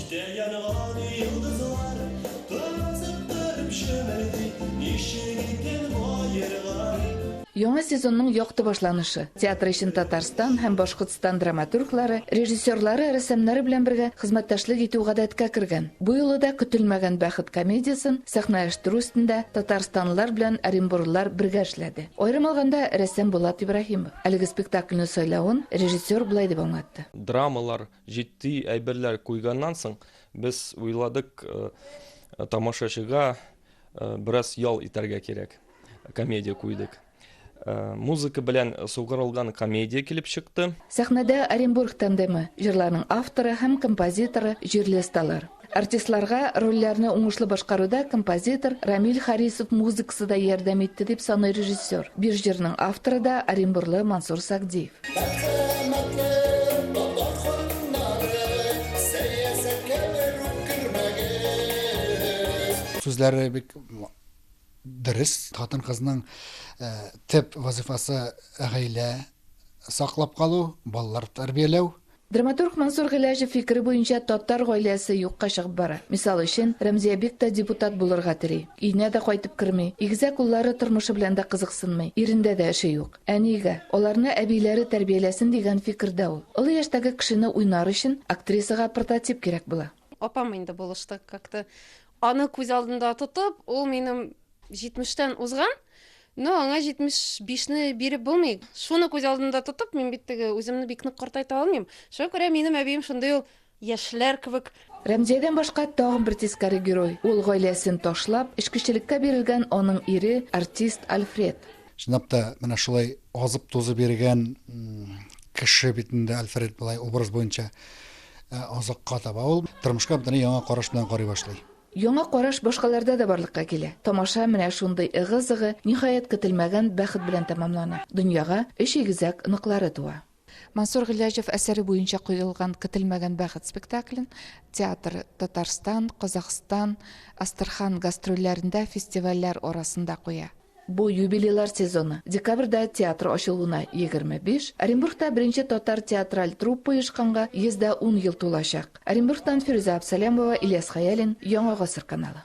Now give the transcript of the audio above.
Күктә янган йолдызлар кызыктырып чемерди, ничек икән бу аерга? Яңа сезонның якты башланышы. Театр өчен Татарстан һәм Башкортстан драматурглары, режиссерлары, рәссамнары белән бергә хезмәттәшлек итү гадәткә кергән. Бу юлы да Көтелмәгән бәхет комедиясен сәхнәләштерү өстендә татарстанлылар белән оренбурлылар бергә эшләде. Аерым алганда, рәссам Булат Ибраһимов әлеге спектакльне сайлавын режиссер болай дип аңлатты. Драмалар, Җитди әйберләр куйганнан соң, без уйладык, тамашачыга бераз ял итәргә кирәк. Комедия куйдык. Музыка белән сугарылган комедия килеп чыкты. Сәхнәдә Оренбург тандемы, җырларның авторы һәм композиторы җирле осталар. Артистларга рольләрне уңышлы башкаруда композитор Рамил Харисов музыкасы да ярдәм итте, дип саный режиссер. Бир җырның авторы да оренбурлы Мансур Сагдиев. Сүзләре бик дөрес. Хатын-кызның төп вазыйфасы гаилә саклап калу, балалар тәрбияләү. Драматург Мансур Гыйләҗев фикере буенча, татар гаиләсе юкка чыгып бара. Мисал өчен, Рәмзиябик тә депутат булырга тели. Өенә дә кайтып керми. Игезәк уллары тормышы белән дә кызыксынмый. Ирендә дә эше юк. Ә нигә? Аларны әбиләре тәрбияләсен дигән фикердә ул. Олы яшьтәге кешене уйнар өчен актрисага прототип кирәк була. Апам инде булыштык как-то. Аны күз алдында тотып, ул минем җитмештән узган, Ну, аңа 75 не биреп булмый. Шуны күз алдында тотып, мин бит теге үземне бик нык картайта алмыйм. Шуңа күрә минем әбием шундый ул яшьләр кебек. Рәмзиядән башка тагын бер тискәре герой, ул гаиләсен ташлап, эчкечелеккә бирелгән аның ире, артист Альфред. Чынлап та, менә шулай азып-тузып йөргән кеше бит инде Альфред болай образ буенча озакка таба ул тормышка бөтенләй яңа караш белән карый башлый. Яңа караш башкаларда да барлыкка килә. Тамаша менә шундый ыгы-зыгы, ниһаять, көтелмәгән бәхет белән тәмамлана. Дөньяга өч игезәк оныклары туа. Мансур Гыйләҗев әсәре буенча куелган Көтелмәгән бәхет спектаклен театр Татарстан, Казахстан, Астырхан гастрольләрендә фестивальләр арасында куя. Бу юбилейлар сезоны. Декабрьдә театр ачылуына 25, Оренбургта беренче татар театраль труппа оешканга 110 ел тулачак. Оренбургтан Фирүзә Абсалямова, Ильяс Хәялин, Яңа гасыр каналы.